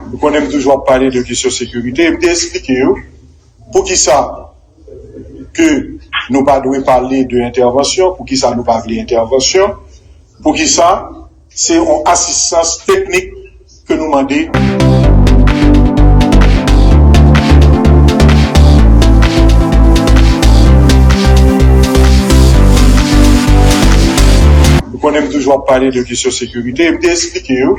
Ou konnen m toujou ap pale de kesyon sekirite e m te esplike yo poukisa ke nou pa dwe pale de entèvansyon, poukisa nou pa vle entèvansyon, poukisa se yon asistans teknik ke nou mande. Ou konnen m toujou ap pale de kesyon sekirite e m te esplike yo.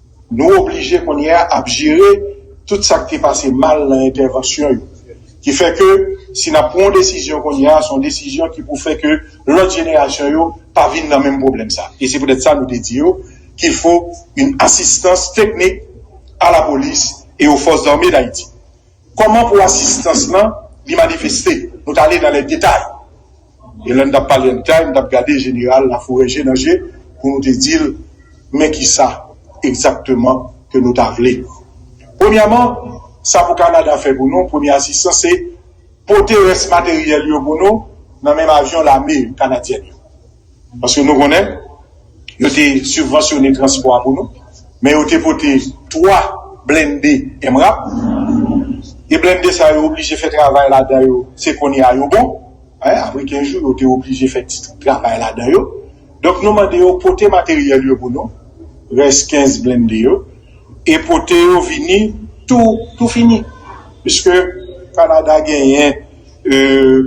Nou oblije kounye a ap jere tout sa k te pase mal nan entèvansyon yo. Ki fè ke si n ap pran yon desizyon kounye a, se yon desizyon ki pou fè ke lòt jenerasyon yo pa vin nan menm pwoblèm sa. E se poutèt sa nou te di yo kil fo yn asistans teknik a lapolis e o fòs zame dayiti. Kòman pou asistans lan li manifeste? Nou t ale nan lè detay. E lè n t ap pale an detay, m t ap gade Jeneral Laforè je nan je pou nou te di l men ki sa egzakteman ke nou ta vle. Premyèman, sa pou Kanada fè pou nou, premye asistans, se pote rès materyèl yo pou nou nan menm avyon lame kanadyèn yo. Paske nou konnen, yo te sibvansyone transpò a pou nou, men yo te pote 3 blende MRAP, e blende sa yo oblije fè travay ladan yo, se kounye a yo bon, apre 15 jou yo te oblije fè ti travay ladan yo, donk nou mande yo pote materyèl yo pou nou, rès 15 blende yo, e pote yo vini tou fini, piske Kanada genyen.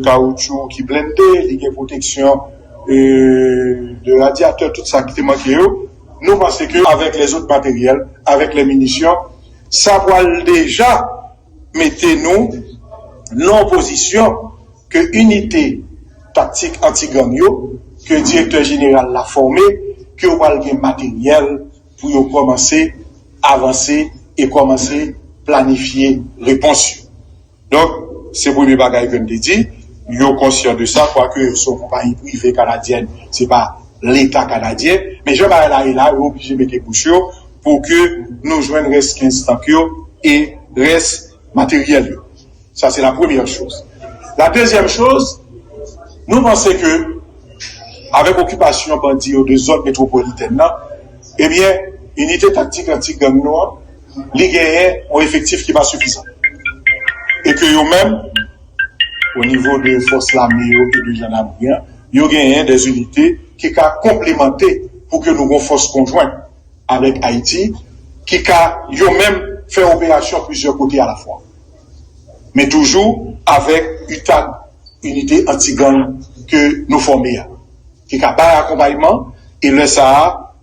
kawoutchou ki blende, li gen pwoteksyon de radyatè, tout sa ki te manke yo, nou panse ke avèk lè zot materyèl, avèk lè minisyon, sa pwal deja mete nou nan yon pozisyon ke inite taktik anti-gang yo, ke direktè jeneral la fòme, ke yo pwal gen materyèl pou yo kòmanse avanse e kòmanse planifye repons yo. Donk, se premye bagay ke m te di, yo konsyan de sa, kwake yo se yon konpayi prive kanadyèn, se pa Leta kanadyen, men jan bagay la ye la, yo oblije mete bouch yo pou ke nou jwenn rès 15 tank yo e rès materyèl yo. Sa se la premyè choz. La dezyèm choz, nou panse ke avèk okipasyon bandi yo de zòn metwopolitèn nan, ebyen, inite taktik anti-gang nou an, li genyen yon efektif ki pa sifizan e ke yo menm o nivo de fòs lame yo e de jandamri an, yo genyen dè inite ki ka konplemante pou ke nou gon fòs konjwen avèk Ayiti ki ka yo menm fè operasyon plizyè kote alafwa. Men toujou avèk UTAG, Inite Anti Gang, ke nou fòme a ki ka bay akonpayman e lè sa a.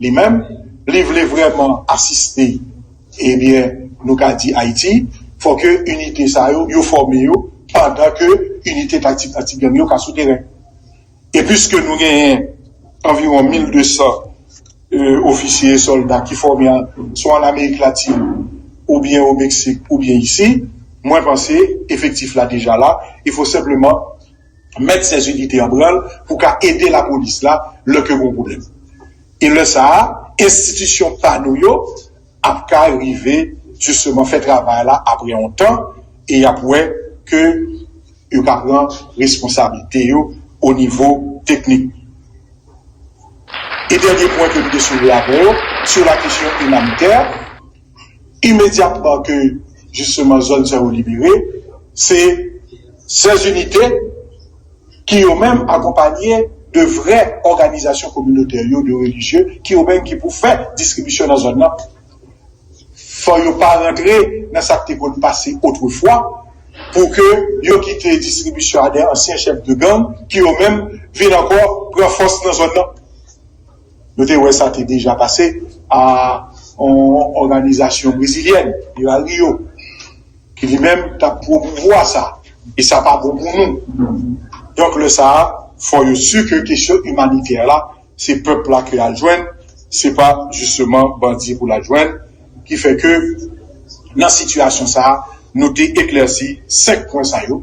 li menm li vle vrèman asiste ebyen nou ka di Ayiti fò ke inite sa yo yo fòme yo pandan ke inite taktik anti-gang yo ka sou teren e pwiske nou genyen anviwon 1200 ofisye e sòlda ki fòme swa an Amerik Latin oubyen o Meksik oubyen isi mwen panse efektif la deja la e fò senpleman met sèz inite an branl pou ka ede lapolis la lè ke gon pwoblèm. E lè sa a, enstitisyon pa nou yo ap ka rive jisteman fè travay la apre yon tan e y ap wè ke yo ka pran responsablite yo o nivo teknik. E dènye pwen ke m te soulve avè yo, sou la kesyon imanitè, imedyatman ke jisteman zòn sa yo libere, se 16 inite ki yo menm akonpanye de vrè òganizasyon kominotè yo, de relijye ki yo menm ki pou fè distribisyon nan zòn nan. Fò yo pa rantre nan sa k te konn pase otrefwa pou ke yo kite distribisyon a de ansyen chèf de gang ki yo menm vin ankò pran fòs nan zòn nan. Nou te wè sa te deja pase a yon òganizasyon brezilyèn, Vira Rio, ki li menm t ap pwomouvwa sa. E sa pa bon pou nou. Donk lè sa a, fò yo si ke kesyon imanitè la, se pèp la ke y al jwenn, se pa jisteman bandi pou l al jwenn. Ki fè ke nan sitiyasyon sa a, nou te eklèsi senk pwen sa yo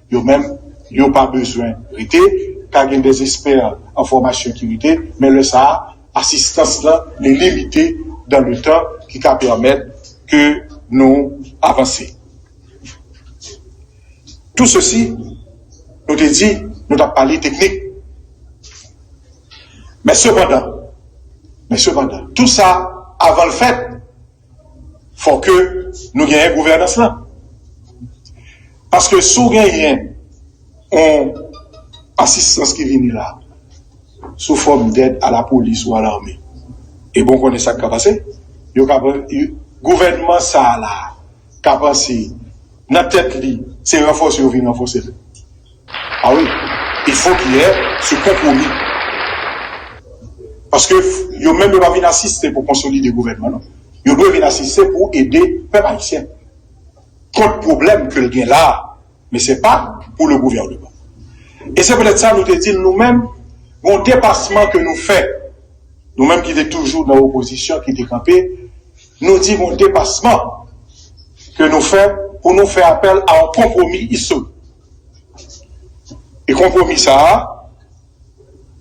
Yo menm, yo pa bezwen rete, ka gen des experts en formation ki rete, men lè sa a, asistans lan li limite dan le tan ki ka pèmèt ke nou avanse. Tou sesi, nou te di nou t ap pale teknik. Men sepandan, men sepandan, tou sa avan l fèt, Fòk ke nou genyen gouvènans lan. Paske si w genyen yon asistans ki vini la sou fòm dèd a la polis ou a lame, e bon konnen sa k ka pase, yo ka pran gouvènman sa la ka panse Nan tèt li se ranfòse yo vin ranfòse l a wi e fò ki yè se konpwomi paske yo menm yo pa vin asiste pou konsolide gouvènman non yo dwe vin asiste pou ede pèp ayisyen kont pwoblèm ke l gen la a men se pa pou le gouvènman e se petèt sa nou te di l nou menm gon depasman ke nou fè nou menm ki te toujou nan opozisyon ki te kanpe. Nou di gon depasman ke nou fè pou nou fè apèl a yon konpwomi istorik. E konpwomi sa a,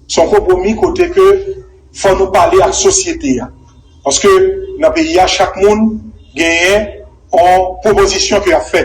se yon konpwomi kote ke fò nou pale ak sosyete a. Paske nan peyi a chak moun genyen yon pwopozisyon ke y ap fè.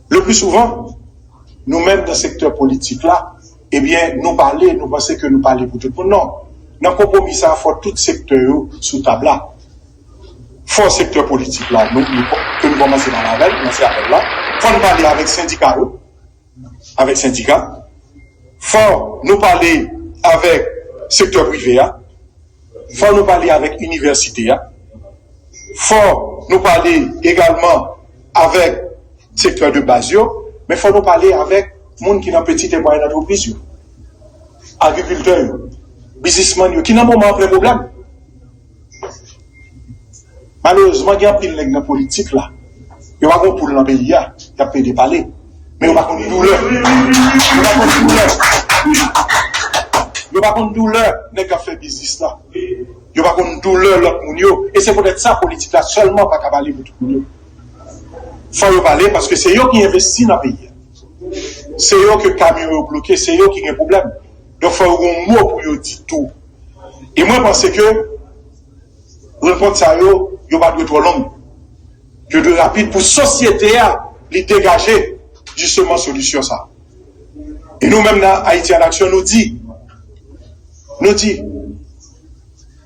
Le plus souvent, nou menm nan sektè politik la, ebyen nou pale, nou panse ke nou pale pou tout moun. Non, nan konpwomi sa a fò tout sektè yo sou tab la. Fò sektè politik la, nou, ke nou kòmanse pale avè l, kòmanse avè l la, fò n pale avèk sendika yo, avèk sendika, fò nou pale avèk sektè prive a, Fò nou pale avèk inivèsite a, fò nou pale egalman avèk sektè de baz yo, men fò nou pale avèk moun ki nan peti e mwayèn antrepriz yo, agrikiltè yo, bizismann yo ki nan moman an plen pwoblèm. Malerezman gen anpil nèg nan politik la yo pa gon poul nan peyi a yap plede pale men yo pa konn doulè yo pa konn doulè yo pa konn doulè nèg kap fè biznis la yo pa konn doulè lòt moun yo e se poutèt sa politik la sèlman pa ka pale pou tout moun yo fò yo pale paske se yo ki envesti nan peyi a se yo ke kamyon yo bloke se yo ki gen pwoblèm donk fò yo gon mo pou yo di tou e mwen panse ke Rankontre sa yo, yo pa dwe twò long. Yo dwe rapid pou sosyete a li degaje jisteman solisyon sa. E nou menm nan Ayiti an Aksyon nou di, nou di,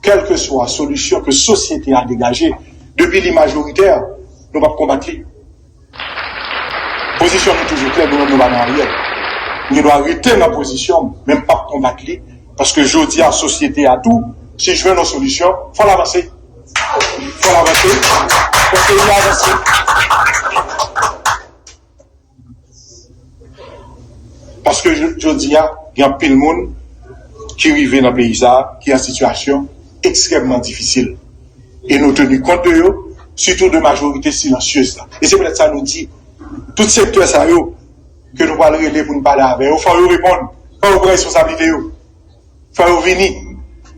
kèlkeswa solisyon ke sosyete a degaje, depi li majoritè, nou pap konbat li. Pozisyon nou toujou klè nou menm nou pa nan Ariel. M gen dwa rete nan pozisyon m men m pap konbat li paske jodi a sosyete a tou si jwenn yon solisyon fò l avanse. Fò l avanse fò peyi a avanse. Paske jodi a, gen anpil moun ki rive nan peyi sa a ki an sitiyasyon ekstrèmman difisil. E nou teni kont de yo, sitou de majorite silansyez la. E se poutèt sa nou di, tout sektè sa yo ke nou pral rele pou nou pale avè yo, fò yo reponn, fò yo pran responsablite yo. fò yo vini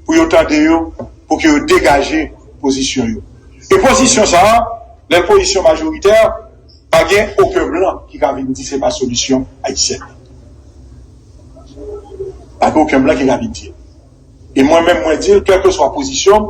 pou yo tande yo pou ke yo degaje pozisyon yo. E pozisyon sa a, lè l pozisyon majoritè, pa gen oken blan ki ka vin di se pa solisyon ayisyèn nan. Pa gen oken blan ki ka vin di l. E mwen menm mwen di l, kèlkeswa pozisyon m,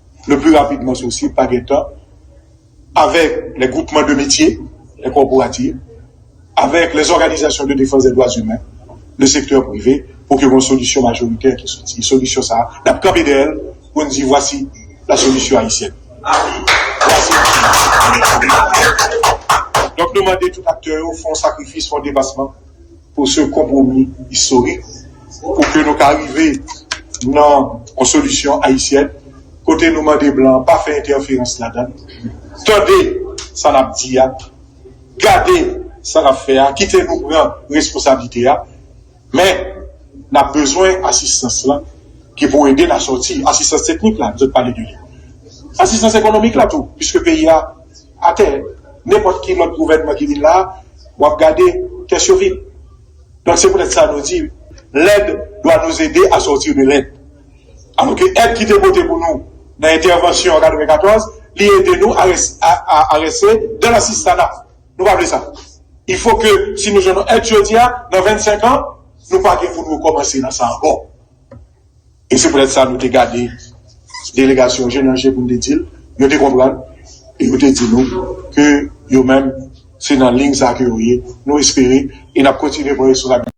le plus rapidman sosib, pa gen tan, avèk lè gwoupman de metye, lè kòporativ, avèk lè zòganizasyon de defans dè dwa zimen, le sektè prive, pou ke gon solisyon majoritè ki soti. Solisyon sa a, nap kanpe dèyè l pou n di vwasi la solisyon ayisyèn. Donk nou mande tout aktè yo fè yon sakrifis, fè yon depasman. pou se yon konpwomi istorik pou ke nou ka rive nan yon solisyon ayisyèn kote nou mande blan pa fè entèferans ladan l, tande sa n ap di a, gade sa n ap fè a, kite nou pran responsablite a, men n ap bezwen asistans lan ki pou ede n a sòti, asistans teknik la m sot pale de li, asistans ekonomik la tou, piske peyi a. Atè, nenpòt ki lòt gouvènman ki vin la, w ap gade, kès yo vid. Donk se poutèt sa nou di, Lend dwa nous aider à sortir de lend. Alò ke èd ki te pote pou nou nan entèvansyon an 94, li ede nou a rese dans l'assistanat. Nou pa vle sa. Il faut ke si nou jwenn yon èd jodi a, nan 25 an, nou pa gen pou nou rekòmanse nan sa ankò. E se poutèt sa nou te gade delegasyon je nan je pou n te di l, yo te konprann e yo te di nou ke yo menm se nan liy sa a ke yo ye. Nou espere e n ap kontinye pran responsabilite.